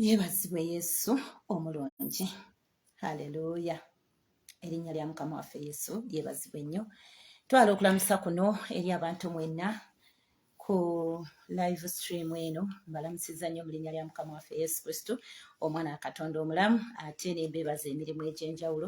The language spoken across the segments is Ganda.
yeebazibwe yesu omulungi haleluya erinnya lya mukama waffe yesu yeebazibwe nnyo twala okulamusa kuno eri abantu mwenna ku live stream eno mbalamusiza nnyo mu linnya lya mukama waffe yesu kristo omwana akatonda omulamu ate nembeebaza emirimu egy'enjawulo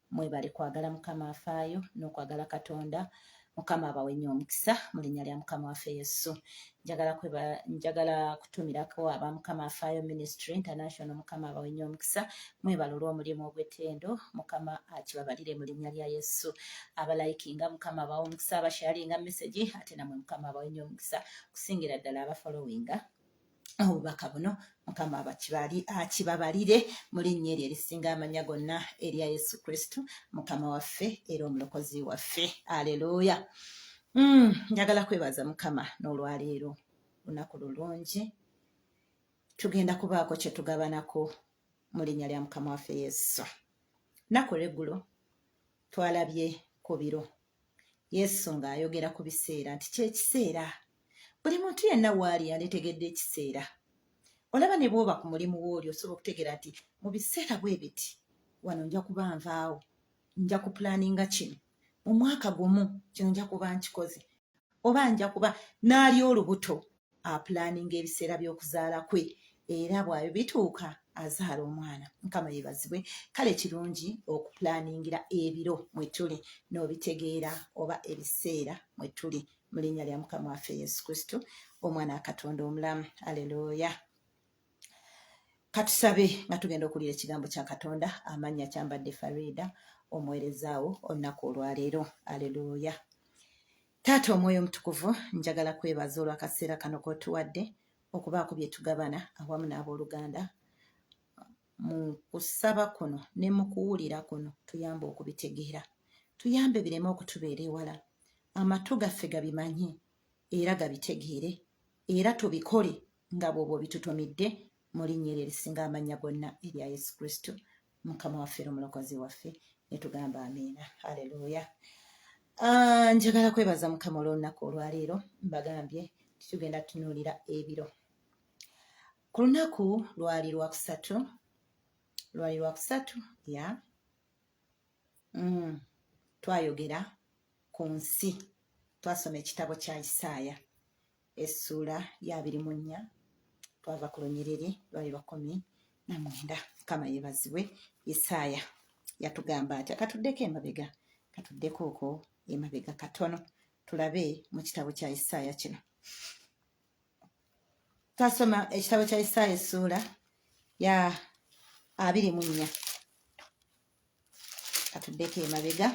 mwebale kwagala mukama afaayo n'okwagala katonda mukama abawe nnyo omukisa mu linnya lya mukama waffe yesu njagala kweba njagala kutumirako aba mukama afaayo ministry international mukama abawe nnyo omukisa mwebale olw'omulimu ogw'ettendo mukama akibabalire mu linnya lya yesu abalayikinga mukama abawe omukisa abasharinga mesegi ate namwe mukama abawe nnyo omukisa okusingira ddala abafolowinga obubaka buno mukama bakibali akibabalire mu linnya eryo erisinga amanya gonna erya yesu kristu mukama waffe era omulokozi waffe aleluya mm, njagala mm, kwebaza mukama n'olwaleero lunaku lulungi tugenda kubaako kyetugabanako mu linnya lya mukama waffe yesu naku lweggulo twalabye ku biro Yesu ng'ayogera ku biseera nti ky'ekiseera buli muntu yenna waali yanditegedde ekiseera olaba ne bwoba ku mulimu wooli osobola okutegeera nti mu biseera bwe biti wano nja kuba nvaawo nja ku pulaninga kino mu mwaka gumu kino nja kuba nkikoze oba nja kuba n'ali olubuto apulaninga ebiseera by'okuzaala kwe era bwabyo bituuka azaala omwana mukama yebazibwe kale kirungi okupulaningira ebiro mwe tuli n'obitegeera oba ebiseera mwe tuli mu linnya lya mukama waffe yesu kristo omwana akatonda omulamu aleluya katusabe nga tugenda okuwulira ekigambo kya katonda amannya kyambadde farida omuwerezaawo olunaku olwaleero aleluuya taata omwoyo omutukuvu njagala kwebaza olwakaseera kano kotuwadde okubaako bye tugabana awamu n'abooluganda mu kusaba kuno ne mu kuwulira kuno tuyambe okubitegeera tuyambe bireme okutubeera ewala amatu gaffe gabimanye era gabitegeere era tubikole nga bwobwo bitutumidde mu linnya eryo erisinga amannya gonna erya yesu kristo mukama waffe era omulokozi waffe netugamba amiina haleluya ah, njagala kwebaza mukama olwolunaku olwaleero mbagambye titugenda tunuulira ebiro ku lunaku lwali lwakusatu lwali lwakusatu ya mm, twayogera ku nsi twasoma ekitabo kya isaaya essuula yabiri mu nnya twava ku lunyiriri lwali lwakumi na mwenda kama yebazibwe isaaya yatugamba atya katuddeko emabega katuddeko oko emabega katono tulabe mu kitabo kya isaaya kino twasoma ekitabo kya isaaya essuula ya abiri mu nnya katuddeko emabega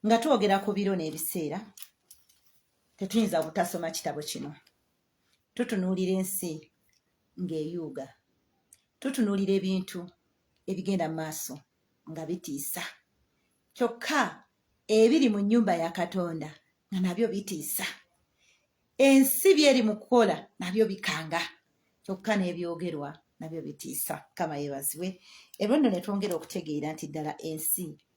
nga twogera ku biro n'ebiseera tetuyinza butasoma kitabo kino tutunuulira ensi ng'eyuuga tutunuulira ebintu ebigenda mu maaso nga bitiisa kyokka ebiri mu nnyumba ya katonda nga nabyo bitiisa ensi byeri mu kukola nabyo bikanga kyokka n'ebyogerwa nabyo bitiisa kama yebazibwe ebyo nno ne twongera okutegeera nti ddala ensi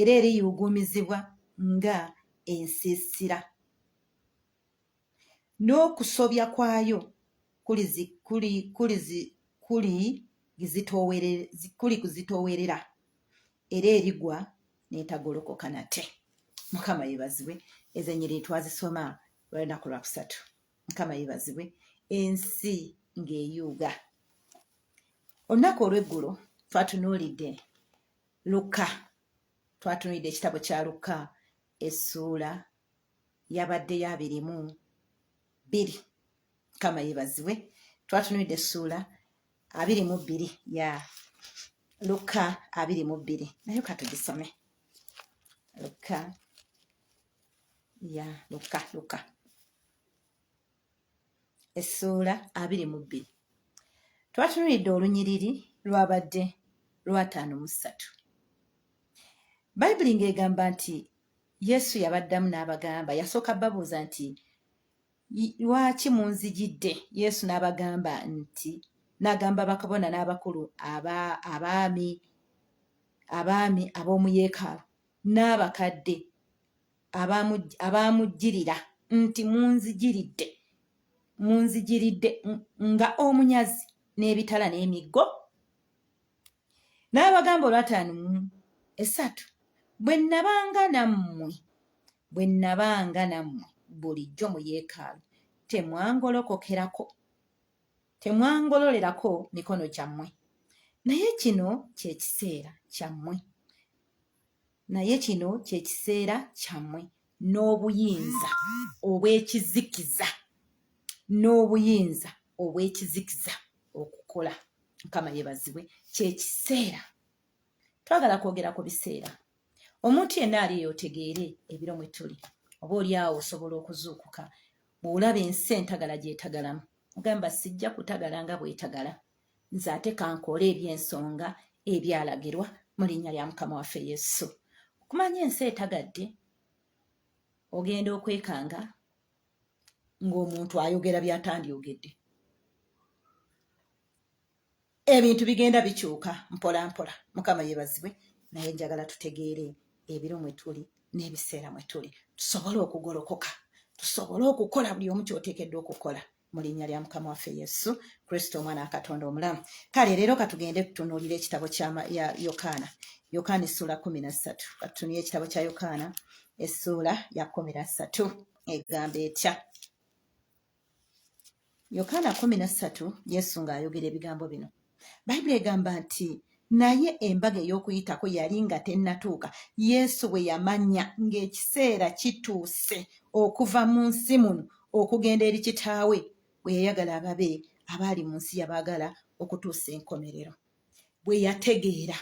era eriyuuguumizibwa nga ensiisira, n'okusobya kwayo kulikuzitoowerera, era erigwa n'etagolokoka nate. Mukama yebazibwe, ezo enyiriri twazisoma lwolunaku lwakusatu. Mukama yebazibwe, ensi ng'eyuuga. Olunaku olw'eggulo twatunuulidde lukka twatunulidde ekitabo kya lukka essuula yabaddeyo abirimu bbiri kama yebazibwe twatunulidde essuula abiri mu bbiri ya lukka abiri mu bbiri naye katugisome lukka ya lukka lukka essuula abiri mu bbiri twatunuulidde olunyiriri lwabadde lwataano mu ssatu bayibuli ng'egamba nti yesu yabaddamu n'abagamba yasooka babuuza nti lwaki munzijidde yesu n'abagamba nti n'agamba bakabona n'abakulu abaami abaami ab'omu yeekaalu n'abakadde abaamujjirira nti munzijiridde munzijiridde nga omunyazi n'ebitala n'emiggo n'abagamba olwataano mu esatu bwe nnabanga nammwe bwe nnabanga nammwe bulijjo mu yeekaalu temwangolokokerako temwangololerako mikono gyammwe naye kino kye kiseera kyammwe naye kino kyekiseera kyammwe n'obuyinza obw'ekizikiza n'obuyinza obw'ekizikiza okukola mukama yebazibwe kyekiseera twagala kwogera ku biseera omuntu yenna ali yotegeere ebiro mwe tuli oba oli awo osobola okuzuukuka bw'olaba ensi entagala gyetagalamu ogamba sijja kutagala nga bwetagala nze ate kankoole eby'ensonga ebyalagirwa mu linnya lya mukama waffe yesu okumanya ensi etagadde ogenda okwekanga ng'omuntu ayogera byatandyogedde ebintu bigenda bikyuka mpola mpola mukama yebazibwe naye njagala tutegeere ebiro mwe tuli n'ebiseera mwe tuli tusobole okugolokoka tusobole okukola buli omu kyoteekeddwa okukola mu linnya lya mukama waffe yesu kristo omwana wa katonda omulamu kale leero katugende tutunuulira ekitabo kya yokaana yokaana essuula kumi na ssatu katutunulira ekitabo kya yokaana essuula ya kumi na ssatu egamba etya yokaana kumi na ssatu yesu ng'ayogera ebigambo bino bayibuli egamba nti naye embaga ey'okuyitako yali nga tennatuuka yesu bwe yamanya ng'ekiseera kituuse okuva mu nsi muno okugenda eri kitaawe bwe yayagala ababe abaali mu nsi yabaagala okutuusa enkomerero bwe yategeera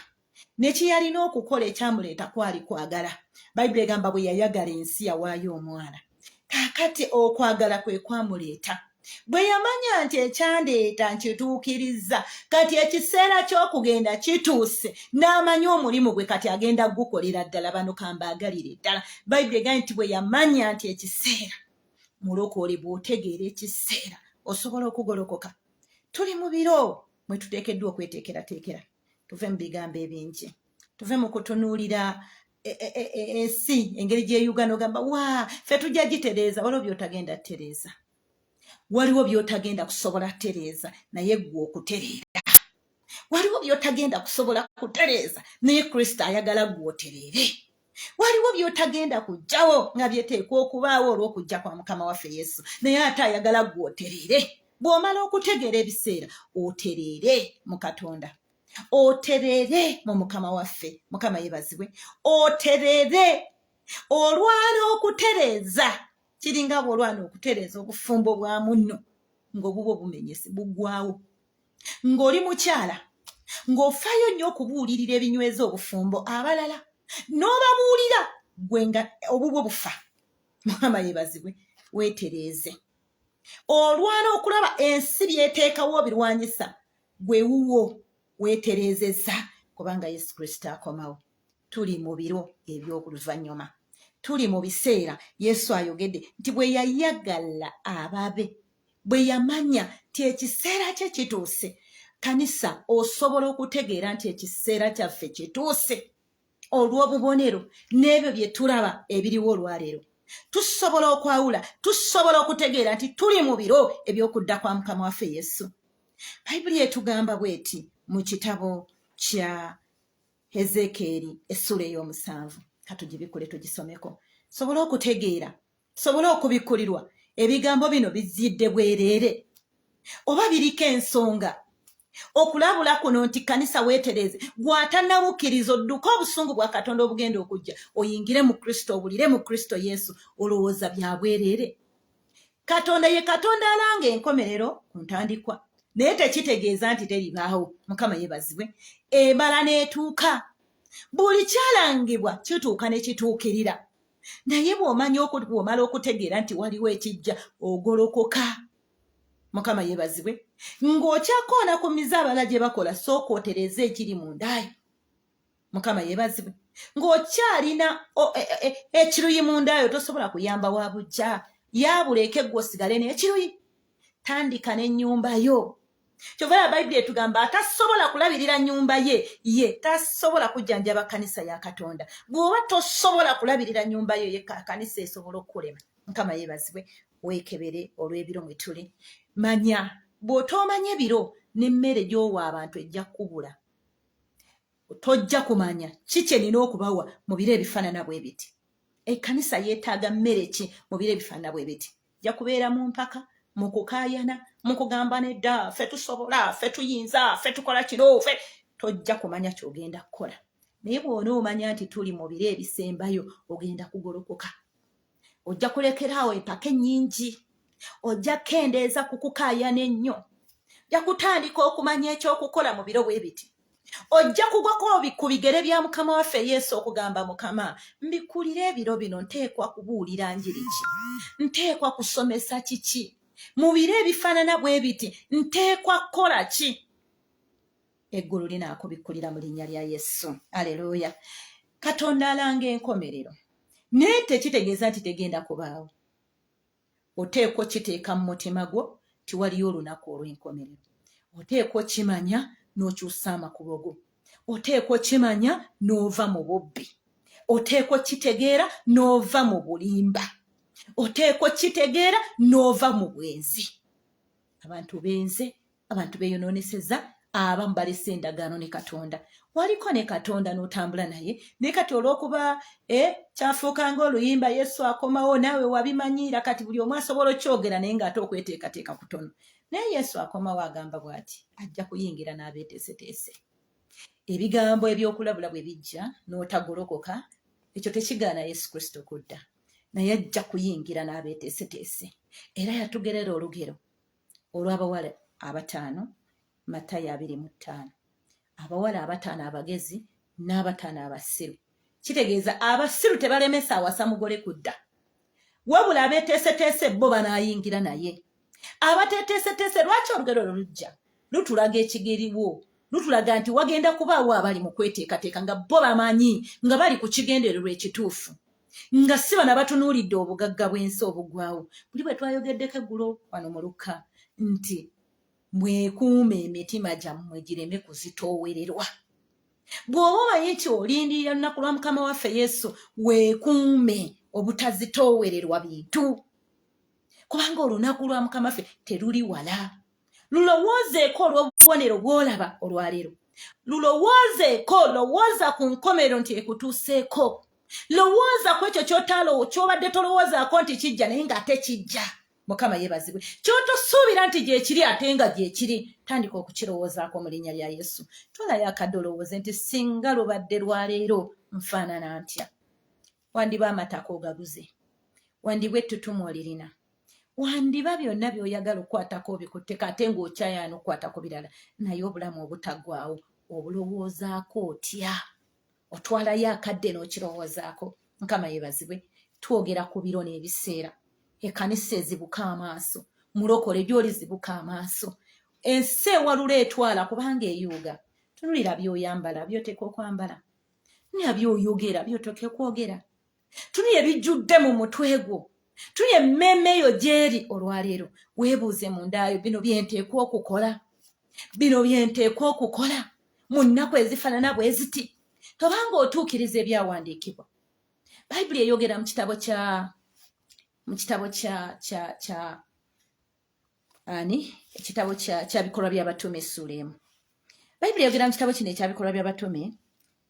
nekyeyalina okukola ekyamuleeta kwali kwagala bayibuli egamba bwe yayagala ensi yawaayo omwana kakati okwagala kwe kwamuleeta bwe yamanya nti ekyandeeta nkituukirizza kati ekiseera ky'okugenda kituuse n'amanya omulimu gwe kati agenda gukolera ddala bano kambaagalire ddala bayibuli egambye nti bwe yamanya nti ekiseera mulokole bw'otegeera ekiseera osobola okugolokoka tuli mu biro mwe tuteekeddwa okweteekerateekera tuve mu bigambo ebingi tuve mu kutunuulira e, e, e, ensi engeri gyeyugana ogamba wa fe tujja gitereeza waliwo byotagenda tereeza waliwo byotagenda kusobola tereeza naye gwe okutereera waliwo byotagenda kusobola kutereeza naye kristo ayagala gwe otereere waliwo byotagenda kujjawo nga byeteekwa okubaawo olw'okujja kwa mukama waffe yesu naye ate ayagala gwe otereere bw'omala okutegeera ebiseera otereere mu katonda otereere mu mukama waffe mukama yebazibwe otereere olwana okutereeza kiringa bw'olwana okutereeza obufumbo bwa munno ng'obubwo bumenyese bugwawo ng'oli mukyala ng'ofaayo nnyo okubuulirira ebinyweza obufumbo abalala n'obabuulira gwe nga obubwo bufa mukama yebazibwe weetereeze olwana okulaba ensi byeteekawo birwanyisa gwe wuwo weetereezezza kubanga yesu kristo akomawo tuli mu biro eby'oluvannyuma tuli mu biseera yesu ayogedde nti bwe yayagala ababe bwe yamanya nti ekiseera kye kituuse kanisa osobola okutegeera nti ekiseera kyaffe kituuse olw'obubonero n'ebyo bye tulaba ebiriwo olwaleero tusobola okwawula tusobola okutegeera nti tuli mu biro eby'okudda kwa mukama waffe yesu bayibuli etugamba bweti mu kitabo kya hezekeeri essuula ey'omusanvu katugibikule tugisomeko sobola okutegeera tusobole okubikkulirwa ebigambo bino bizidde bwereere oba biriko ensonga okulabula kuno nti kanisa weetereeze gwatanawukiriza odduke obusungu bwa katonda obugenda okujja oyingire mu kristo obulire mu kristo yesu olowooza bya bwereere katonda ye katonda alanga enkomerero ku ntandikwa naye tekitegeeza nti teribaawo mukama yebazibwe emala n'etuuka buli kyalangibwa kituuka ne kituukirira naye bwomanya bwomala okutegeera nti waliwo ekijja ogolokoka mukama yebazibwe ng'okyakoona ku mize abala gye bakola sooka otereeza ekiri mu ndaayo mukama yebazibwe ng'okyalina e, e, e, ekiruyi mu ndaayo tosobola kuyamba wa bujja yabula ekegwa osigale n'ekiruyi tandika n'ennyumba yo kyova ya bayibuli etugamba atasobola kulabirira nyumba ye ye tasobola kujjanjaba kanisa ya katonda bw'oba tosobola kulabirira nyumba yo ye kanisa esobola okukulema mukama yeebazibwe weekebere olw'ebiro mwe tuli manya bw'otoomanya ebiro n'emmere gy'owa abantu ejja kukubula tojja kumanya ki kye nina okubawa mu biro ebifaanana bwe biti ekkanisa yeetaaga mmere ki mu biro ebifaanana bwe biti ja kubeera mu mpaka mu kukaayana mu kugamba nedda fe tusobola fe tuyinza fe tukola kino fe tojja kumanya kyogenda kukola naye bwona omanya nti tuli mu biro ebisembayo ogenda kugolokoka ojja kulekeraawo empaka ennyingi ojja kukendeeza ku kukaayana ennyo ja kutandika okumanya ekyokukola mu biro bwe biti ojja kugwako ku bigere bya mukama waffe yesu okugamba mukama mbikulira ebiro bino nteekwa kubuulira njiri ki nteekwa kusomesa kiki mu biro ebifaanana bwe biti nteekwa kukola ki eggulu linaakubikkulira mu linnya lya yesu aleluuya katonda alanga enkomerero naye tekitegeeza nti tegenda kubaawo oteekwa okiteeka mu mutima gwo nti waliyo olunaku olw'enkomerero oteekwa okimanya n'okyusa amakubo go oteekwa okimanya n'ova mu bubbi oteekwa okitegeera n'ova mu bulimba oteekwa okitegeera n'ova mu bwenzi abantu benze abantu beyononeseza abamu balese endagaano ne katonda waliko ne katonda n'otambula naye naye kati olwokuba e kyafuuka nga oluyimba yesu akomawo naawe wabimanyiira kati buli omu asobola okyogera naye ngaate okweteekateeka kutono naye yesu akomawo agamba bwati ajja kuyingira n'abeeteeseteese ebigambo ebyokulabula bwe bijja n'otagolokoka ekyo tekigaana yesu kristo kudda naye ajja kuyingira n'abeeteeseteese era yatugerera olugero olw'abawala abataano matayo abiri mu ttaano abawala abataano abagezi n'abataano abasiru kitegeeza abasiru tebalemesa awasa mugole kudda wabula abeteeseteese bo banaayingira naye abateteeseteese lwaki olugero lwo lujja lutulaga ekigeriwo lutulaga nti wagenda kubaawo abali mu kweteekateeka nga bo bamanyi nga bali ku kigendererwa ekituufu nga si bano abatunuulidde obugagga bw'ensi obugwawo buli bwe twayogeddeko eggulo wano mu lukka nti mwekuuma emitima gyammwe gireme kuzitoowererwa bw'oba omanyi nti olindirira lunaku lwa mukama waffe yesu weekuume obutazitoowererwa bintu kubanga olunaku lwa mukama ffe teruli wala lulowoozeeko olw'obubonero bw'olaba olwaleero lulowoozeeko lowooza ku nkomero nti ekutuuseeko lowooza ku ekyo kyotalowo kyobadde tolowoozaako nti kijja naye ng'ate kijja mukama yebazibwe kyotosuubira nti gyekiri ate nga gyekiri tandika okukirowoozaako mu linnya lya yesu tolayo akadde olowooze nti singa lubadde lwaleero nfaanana ntya wandiba amataka ogaguze wandibwa ettutumu olirina wandiba byonna byoyagala okukwatako obikutteka ate ngaokyayaana okukwatako birala naye obulamu obutagwawo obulowoozaako otya otwalayo akadde n'okirowoozaako nkama yebazibwe twogera ku biro n'ebiseera ekanisa ezibuka amaaso mulokole gyoli zibuka amaaso ensi ewalula etwala kubanga eyuuga tunulira byoyambala byoteeka okwambala nabyoyogera byotoka okwogera tuli ebijjudde mu mutwe gwo tuli emmeeme eyo gyeri olwaleero weebuuze mu ndaayo bino byenteekwa okukola bino byenteekwa okukola mu nnaku ezifaanana bwe ziti tobanga otuukiriza ebyawandiikibwa bayibuli eyogera mu kitabo kya mu kitabo kya kya kya ani ekitabo kya kya bikolwa by'abatume essuula emu bayibuli eyogera mu kitabo kino ekya bikolwa by'abatume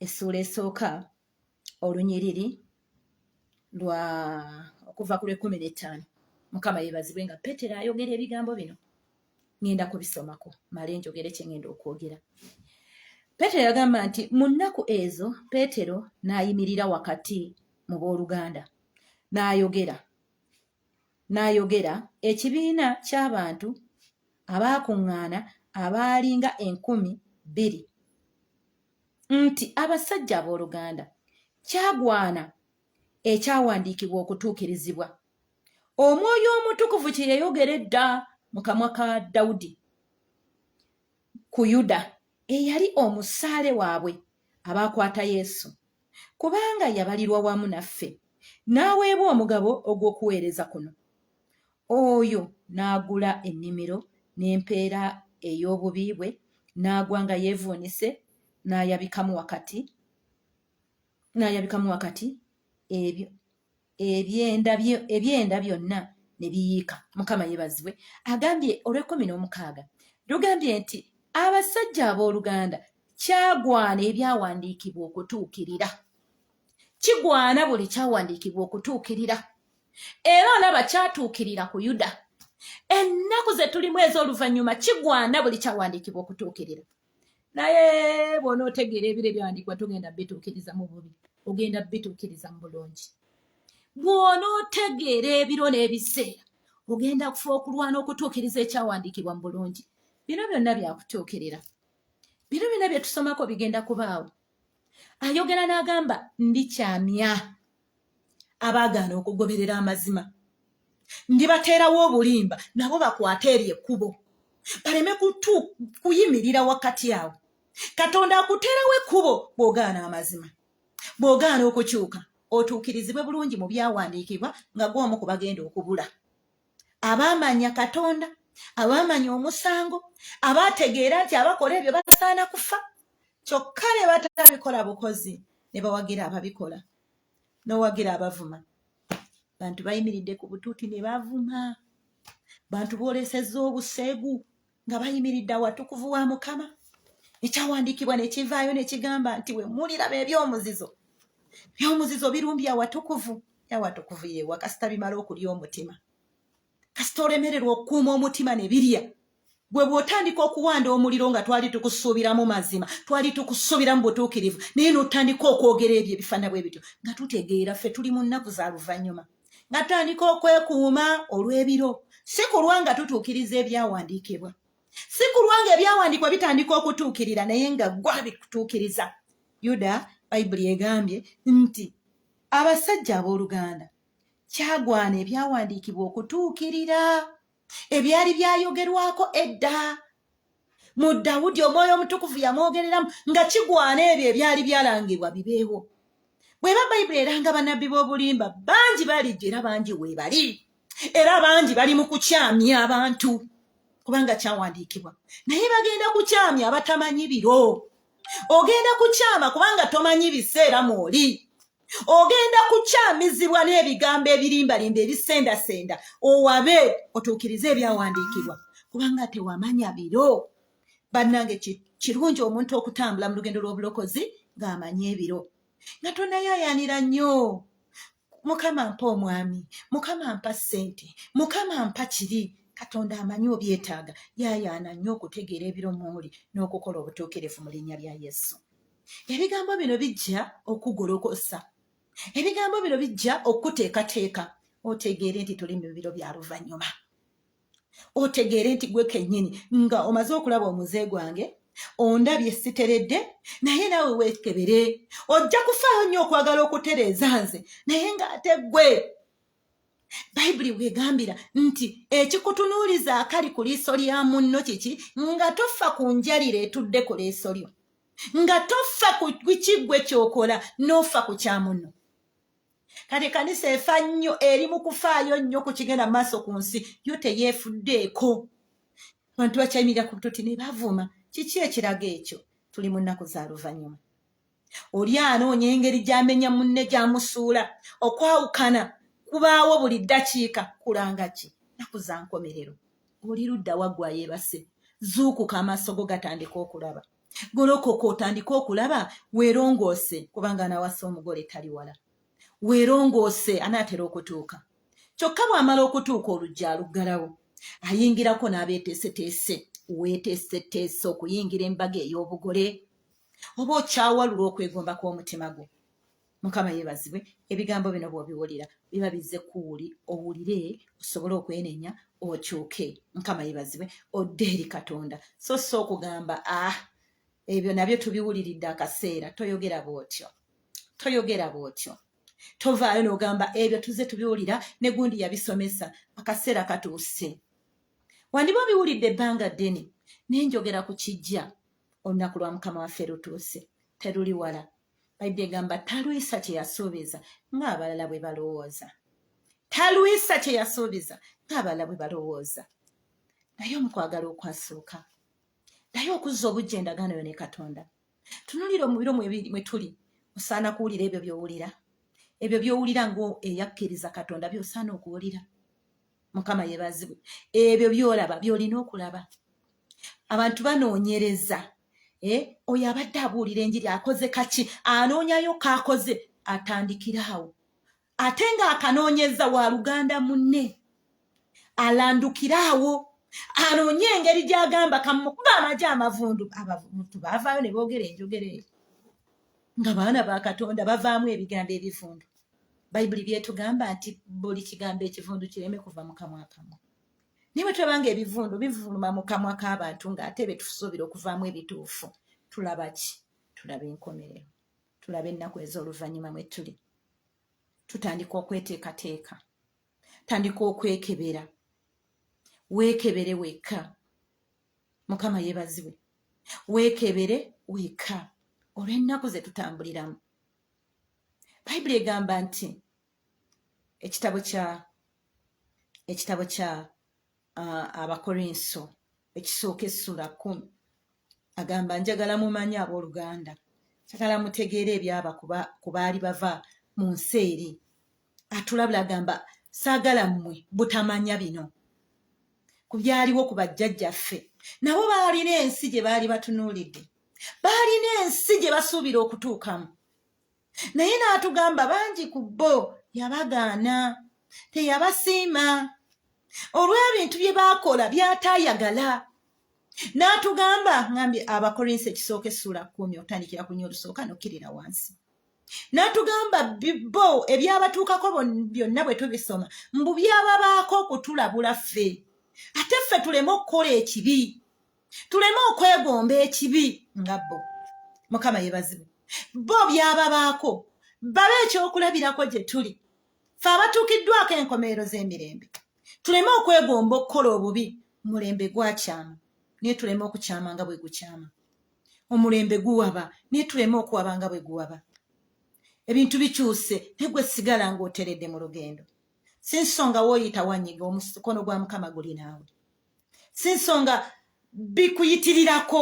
essuula esooka olunyiriri lwa okuva ku lwekumi n'ettaano mukama yebazibwe nga petero ayogera ebigambo bino ŋenda kubisomako male njogere kyeŋenda okwogera petero yagamba nti mu nnaku ezo petero n'ayimirira wakati mu booluganda n'ayogera n'ayogera ekibiina ky'abantu abaakuŋŋaana abaalinga enkumi bbiri nti abasajja abooluganda kyagwana ekyawandiikibwa okutuukirizibwa omwoyo omutukuvu kye yayogera edda mu kamwa ka dawudi ku yuda eyali omusaale waabwe abaakwata yesu kubanga yabalirwa wamu naffe n'aweebwa omugabo ogw'okuweereza kuno Oyo n'agula ennimiro n'empeera ey'obubi bwe, n'agwa nga yeevuunise, n'ayabikamu wakati n'ayabikamu wakati ebyo ebyenda ebyenda byonna ne biyiika mukama yeebazibwe agambye olw'ekkumi n'omukaaga lugambye nti abasajja abooluganda kyagwana ebyawandiikibwa okutuukirira kigwana buli kyawandiikibwa okutuukirira era olaba kyatuukirira ku yuda ennaku ze tulimu ez'oluvannyuma kigwana buli kyawandiikibwa okutuukirira naye bwona otegeera ebiro ebyawandiikibwa togenda bituukiriza mu bubi ogenda bituukiriza mu bulungi bwona otegeera ebiro n'ebiseera ogenda kufa okulwana okutuukiriza ekyawandiikibwa mu bulungi bino byonna byakutuukirira bino byonna byetusomako bigenda kubaawo ayogera n'agamba ndikyamya abaagaana okugoberera amazima ndibateerawo obulimba nabo bakwate eryo ekkubo baleme kutu kuyimirira wakati awo katonda akuteerawo ekkubo bw'ogaana amazima bw'ogaana okukyuka otuukirizibwe bulungi mu byawandiikibwa nga gw'omu ku bagenda okubula abaamanya katonda abaamanya omusango abaategeera nti abakola ebyo basaana kufa kyokka ne batabikola bukozi ne bawagira ababikola n'owagira abavuma bantu bayimiridde ku butuuti ne bavuma bantu boolesezza obuseegu nga bayimiridde awatukuvu wa mukama ekyawandiikibwa nekivaayo nekigamba nti wemuliraba ebyomuzizo byomuzizo birumbi awatukuvu awatukuvu yewa kasita bimala okulya omutima kasita olemererwa okukuuma omutima nebirya gwe bwotandika okuwanda omuliro nga twali tukusuubiramu mazima twali tukusuubiramu butuukirivu naye notandika okwogera ebyo ebifaana bwe bityo nga tutegeera ffe tuli mu nnaku za luvannyuma nga tutandika okwekuuma olw'ebiro si kulwa nga tutuukiriza ebyawandiikibwa si kulwa nga ebyawandiikibwa bitandika okutuukirira naye nga gwa bikutuukiriza yuda bayibuli egambye nti abasajja abooluganda kyagwana ebyawandiikibwa okutuukirira ebyali byayogerwako edda mu dawudi omwoyo omutukuvu yamwogereramu nga kigwana ebyo ebyali byalangibwa bibeewo bweba bayibuli eranga banabbi b'obulimba bangi balijja era bangi weebali era bangi bali mu kukyamya abantu kubanga kyawandiikibwa naye bagenda kukyamya abatamanyi biro ogenda kukyama kubanga tomanyi biseera mwoli ogenda kukyamizibwa n'ebigambo ebirimbalimba ebisendasenda owabe otuukirize ebyawandiikibwa kubanga tewamanya biro bannange kirungi omuntu okutambula mu lugendo lw'obulokozi ng'amanyi ebiro nga tonayayanira nnyo mukama mpa omwami mukama mpa ssente mukama mpa kiri katonda amanyi obyetaaga yayaana nnyo okutegeera ebiro muuli n'okukola obutuukirivu mu linnya lya yesu ebigambo bino bijja okugolokosa ebigambo bino bijja okukuteekateeka otegeere nti tuli mu biro bya luvannyuma otegeere nti gwe kennyini nga omaze okulaba omuze gwange ondabye siteredde naye naawe weekebere ojja kufaayo nnyo okwagala okutereeza nze naye ng'ate gwe bayibuli bwegambira nti ekikutunuuliza akali ku liiso lya munno kiki nga toffa ku njalira etudde ku liiso lyo nga toffa ku kiggwe kyokola n'ofa ku kya munno kati kanisa efa nnyo eri mu kufaayo nnyo ku kigenda mu maaso ku nsi yo teyeefuddeeko abantu bakyayimirira ku butoti ne bavuma kiki ekiraga ekyo tuli mu nnaku za luvannyuma oli anoonya engeri gy'amenya munne gy'amusuula okwawukana kubaawo buli ddakiika kulanga ki naku za nkomerero oli ludda waggwa yeebase zuukuka amaaso go gatandika okulaba golokoka otandike okulaba weerongoose kubanga anawasa omugole tali wala weerongoose anaatera okutuuka kyokka bw'amala okutuuka oluggi aluggalawo ayingirako n'abeeteeseteese weeteeseteese okuyingira embaga ey'obugole oba okyawalula okwegomba kw'omutima gwo mukama yebazibwe ebigambo bino bwobiwulira biba bizze kuwuli owulire osobole okwenenya okyuke mukama yebazibwe odde eri katonda so si okugamba ah ebyo nabyo tubiwuliridde akaseera toyogera bwotyo toyogera bwotyo tovaayo nogamba ebyo tuze tubiwulira ne gundi yabisomesa akaseera katuuse wandiba obiwulidde ebbanga ddene nenjogera ku kijja olunaku lwa mukama waffe lutuuse teruli wala bayibuli egamba talwisa kye yasuubiza ng'abalala bwe balowooza talwisa kye yasuubiza ng'abalala bwe balowooza naye omukwagala okwasuuka naye okuzza obujja endagaano yo ne katonda tunulira omubiro mwe tuli osaana kuwulira ebyo byowulira ebyo byowulira ngaeyakkiriza katonda byosaana okuwulira mukama yebazibwe ebyo byolaba byolina okulaba abantu banoonyereza eh, oyo abadde abuulira enjiri akoze kaki anoonyayo kaakoze atandikiraawo ate nga akanoonyeza wa luganda munne alandukiraawo anoonye engeri gyagamba kamukuba amaje amavundu abantu bavaayo ne boogera enjogera eyo nga baana ba katonda bavaamu ebigambo ebivundu bayibuli byetugamba nti buli kigambo ekivundu kireme kuva mu kamwa kamwe naye bwe tulaba nga ebivundu bivuluma mu kamwa k'abantu ng'ate be tusuubira okuvaamu ebituufu tulaba ki tulaba enkomerero tulaba ennaku ez'oluvannyuma mwe tuli tutandika okweteekateeka tandika okwekebera weekebere wekka mukama yeebazibwe weekebere wekka olw'ennaku ze tutambuliramu bayibuli egamba nti ekitabo kya ekitabo kya uh, abakorinso ekisooka essula kumi agamba njagala mumanye abooluganda njagala mutegeere ebyaba ku baali bava mu nsi eri atulabula agamba saagala mmwe butamanya bino ku byaliwo ku bajjajjaffe nabo baalina ensi gye baali batunuulidde baalina ensi gye basuubira okutuukamu naye n'atugamba bangi ku bo yabagaana teyabasiima olw'ebintu bye baakola byataayagala n'atugamba ngambye abakorinsi ekisooka essuula kumi otandikira ku nyo olusooka nokkirira wansi n'atugamba bo ebyabatuukako byonna bwe tubisoma mbu byababaako okutulabula ffe ate ffe tuleme okukola ekibi tuleme okwegomba ekibi nga bo mukama yebazibu bo byababaako babe ekyokulabirako gye tuli fe abatuukiddwako enkomerero z'emirembe tuleme okwegomba okukola obubi mulembe gwakyama naye tuleme okukyama nga bwe gukyama omulembe guwaba naye tuleme okuwaba nga bwe guwaba ebintu bikyuse naye gwe sigala ng'oteredde mu lugendo si nsonga wooyita wanyiga omukono gwa mukama guli naawe si nsonga bikuyitirirako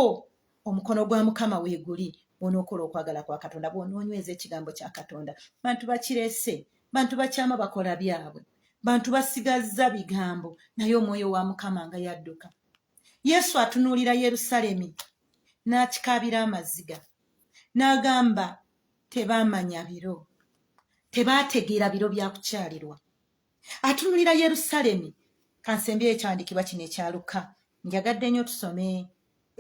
omukono gwa mukama weeguli onookola okwagala kwa katonda bwonoonyweza ekigambo kya katonda bantu bakirese bantu bakyama bakola byabwe bantu basigazza bigambo naye omwoyo wa mukama nga yadduka yesu atunuulira yerusalemi n'akikaabira amaziga n'agamba tebaamanya biro tebaategeera biro bya kukyalirwa atunulira yerusalemi kansembye ekyandikibwa kino ekyaluka njagadde nnyo tusome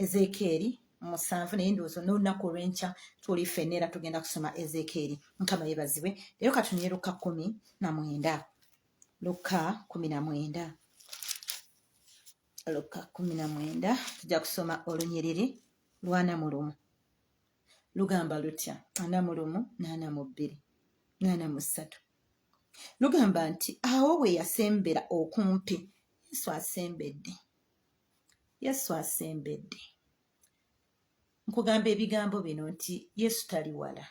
ezekeeri musanvu naye ndowooza n'olunaku olwenkya tuli fenna era tugenda kusoma ezekeeri mukama yebazibwe leero katunyeruka kumi na mwenda lukka kumi na mwenda lukka kumi na mwenda tujja kusoma olunyiriri lwana mu lumu lugamba lutya ana mu lumu naana mu bbiri naana mu ssatu lugamba nti awo bwe yasembera okumpi yesu asembedde yesu asembedde nkugamba ebigambo bino nti yesu tali wala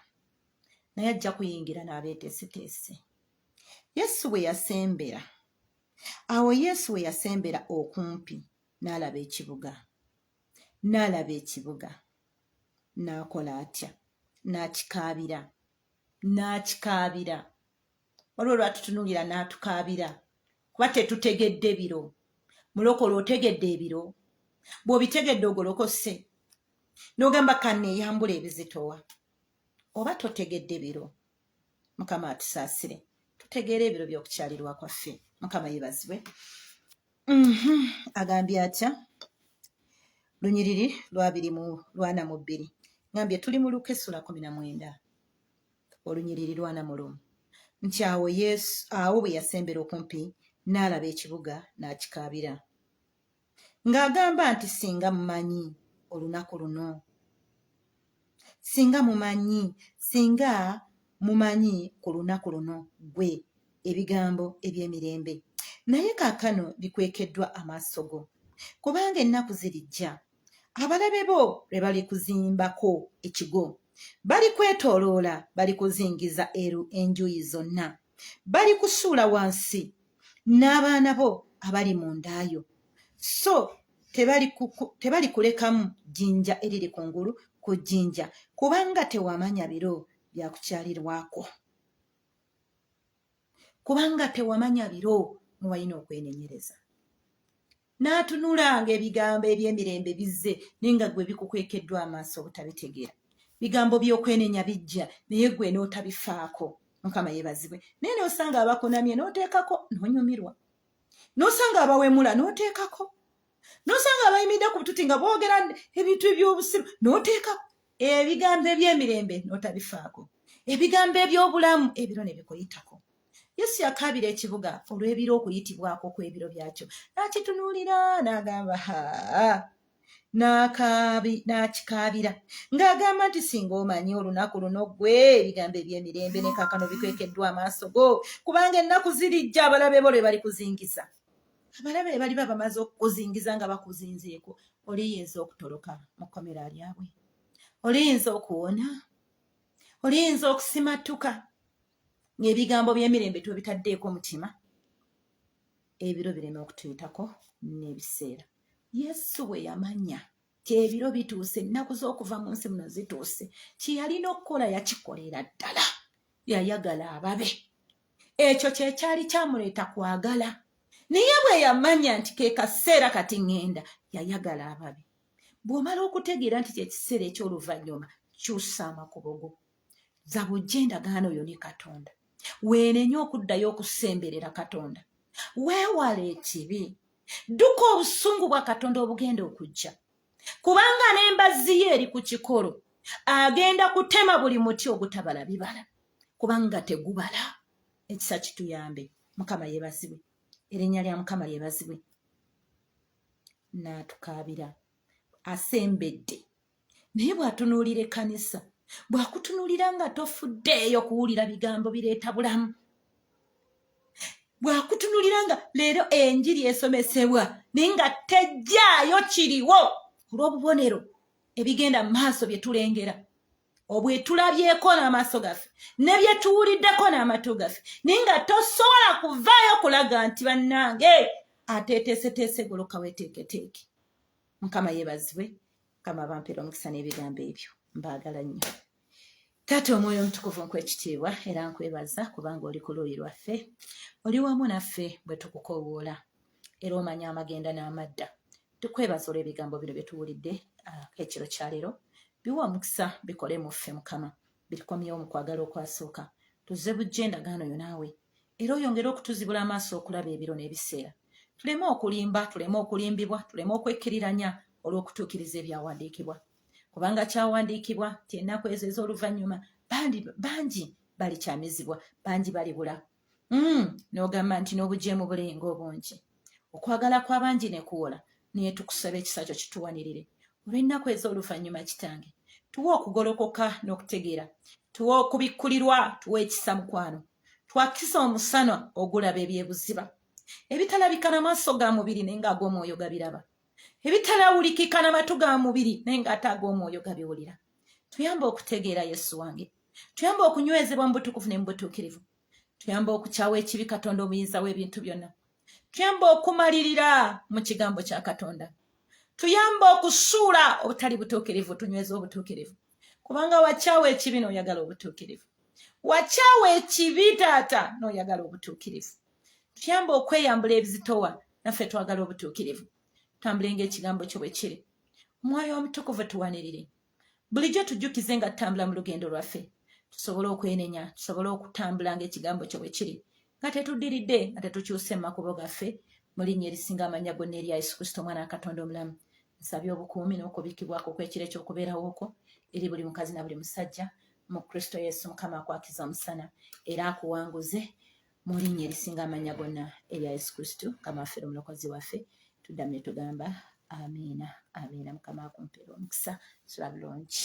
naye ajja kuyingira n'abeeteeseteese yesu bwe yasembera awo yesu we yasembera okumpi n'alaba ekibuga n'alaba ekibuga n'akola atya n'akikaabira n'akikaabira waliwo lwatutunuulira n'atukaabira kuba tetutegedde biro mulokola otegedde ebiro bw'obitegedde ogolokose n'ogamba kanneeyambula ebizitowa oba totegedde biro mukama atusaasire tutegeera ebiro by'okukyalirwa kwaffe mukama yebazibwe mhm. agambye atya lunyiriri lwabiri mu lwana mu bbiri ngambye tuli mu luka essula kumi na mwenda olunyiriri lwana mu lumu nti awo yesu awo bwe yasembera okumpi n'alaba ekibuga n'akikaabira ng'agamba nti singa mumanyi olunaku luno singa mumanyi singa mumanyi ku lunaku luno gwe ebigambo eby'emirembe naye kaakano bikwekeddwa amaaso go kubanga ennaku zirijja abalabe bo lwe balikuzimbako ekigo balikwetooloola balikuzingiza eru enjuyi zonna bali kusuula wansi n'abaana bo abali mu ndaayo so tebali kulekamu jjinja eriri ku ngulu ku jjinja kubanga tewamanya biro byakukyalirwako kubanga tewamanya biro muwalina okwenenyereza n'atunulanga ebigambo eby'emirembe bizze naye nga gwe bikukwekeddwa amaaso obutabitegeera bigambo by'okwenenya bijja naye gwe n'otabifaako mukama yebazibwe naye n'osanga abakunamye n'oteekako n'onyumirwa n'osanga abawemula n'oteekako n'osanga abayimidde ku bututi nga boogera ebintu eby'obusiru n'oteekako ebigambo eby'emirembe n'otabifaako ebigambo eby'obulamu ebiro ne bikuyitako yesu yakaabira ekibuga olw'ebiro okuyitibwako kw'ebiro byakyo n'akitunuulira n'agamba ha n'akikaabira ng'agamba nti singa omanyi olunaku luno ggwe ebigambo eby'emirembe ne kakano bikwekeddwa amaaso go kubanga ennaku zirijja abalabe bo lwe bali kuzingiza abalabe be baliba bamaze okukuzingiza nga bakuzinzeeko oliyinza okutoloka mu kkomera lyabwe oliyinza okuwona oliyinza okusimattuka ng'ebigambo by'emirembe twebitaddeeko mutima ebiro bireme okutuyitako n'ebiseera yesu bwe yamanya kyebiro bituuse ennaku z'okuva mu nsi muno zituuse kyeyalina okukola yakikolera ddala yayagala ababe ekyo kyekyali kyamuleeta kwagala naye bwe yamanya nti ke kaseera kati ŋŋenda yayagala ababe bw'omala okutegeera nti kyekiseera eky'oluvannyuma kyusa amakubo go zaba ojja endagaano oyo ne katonda weenenye okuddayo okusemberera katonda weewala ekibi dduka obusungu bwa katonda obugenda okujja kubanga n'embazzi ye eri ku kikolo agenda kutema buli muti ogutabala bibala kubanga tegubala ekisa kituyambe mukama yebazibwe erinnya lya mukama lyebazibwe naatukaabira asembedde naye bwatunuulira ekkanisa bwakutunuulira nga tofuddeeyo kuwulira bigambo bireeta bulamu bwakutunuulira nga leero enjiri esomesebwa naye nga tejjaayo kiriwo olw'obubonero ebigenda mu maaso bye tulengera obwetulabyeko n'amaaso gaffe ne bye tuwuliddeko n'amatu gaffe naye nga tosobola kuvaayo kulaga nti bannange ateeteeseteese goloka weteeketeeke mukama yebazibwe mukama bampera omukisa n'ebigambo ebyo mbaagala nnyo taata omwoyo omutukuvu nkwekitiibwa era nkwebaza kubanga oli ku luuyi lwaffe oli wamu naffe bwe tukukowoola era omanya amagenda n'amadda tukwebaza olw'ebigambo bino bye tuwulidde ah, ekiro kyaleero biwa omukisa bikole mu ffe mukama birikomyewo mu kwagala okwasooka tuzze bujja endagaano yo naawe era oyongere okutuzibula amaaso okulaba ebiro n'ebiseera tuleme okulimba tuleme okulimbibwa tuleme okwekkiriranya olw'okutuukiriza ebyawandiikibwa kubanga kyawandiikibwa nti ennaku ezo ez'oluvannyuma bangi balikyamizibwa bangi balibula mm, n'ogamba nti n'obujeemu bulinga obungi okwagala kw'abangi ne kuwola naye tukusaba ekisa kyo kituwanirire olw'ennaku ez'oluvannyuma kitange tuwa okugolokoka n'okutegeera tuwa okubikkulirwa tuwa ekisa mukwano twakisa omusana ogulaba ebyebuziba ebitalabika na maaso ga mubiri naye nga ag'omwoyo gabiraba ebitalawulikika na matu ga mubiri naye nga ate ag'omwoyo gabiwulira tuyamba okutegeera yesu wange tuyamba okunywezebwa mu butukuvu ne mu butuukirivu tuyamba okukyawa ekibi katonda omuyinza w'ebintu byonna tuyamba okumalirira mu kigambo kya katonda tuyamba okusuula obutali butuukirivu tunyweza obutuukirivu kubanga wakyawa ekibi n'oyagala obutuukirivu wakyawa ekibi taata n'oyagala obutuukirivu tuyamba okweyambula ebizitowa naffe twagala obutuukirivu tambulenga ekigambo kyo bwe kiri omwoyo omutukuvu tuwanirire bulijjo tujjukize nga tutambula mu lugendo lwaffe tusobole okwenenya tusobole okutambula nga ekigambo kyo bwe kiri nga tetuddiridde nga tetukyuse mu makubo gaffe mu linnya erisinga amanya gonna erya yesu kristo omwana wa katonda omulamu nsabye obukuumi n'okubikkibwako okw'ekiro eky'okubeerawo okwo eri buli mukazi na buli musajja mu kristo yesu mukama akwakiza omusana era akuwanguze mu linnya erisinga amannya gonna erya yesu kristo mukama waffe omulokozi waffe tuddamu ne tugamba amiina amiina mukama akumpeera omukisa sula bulungi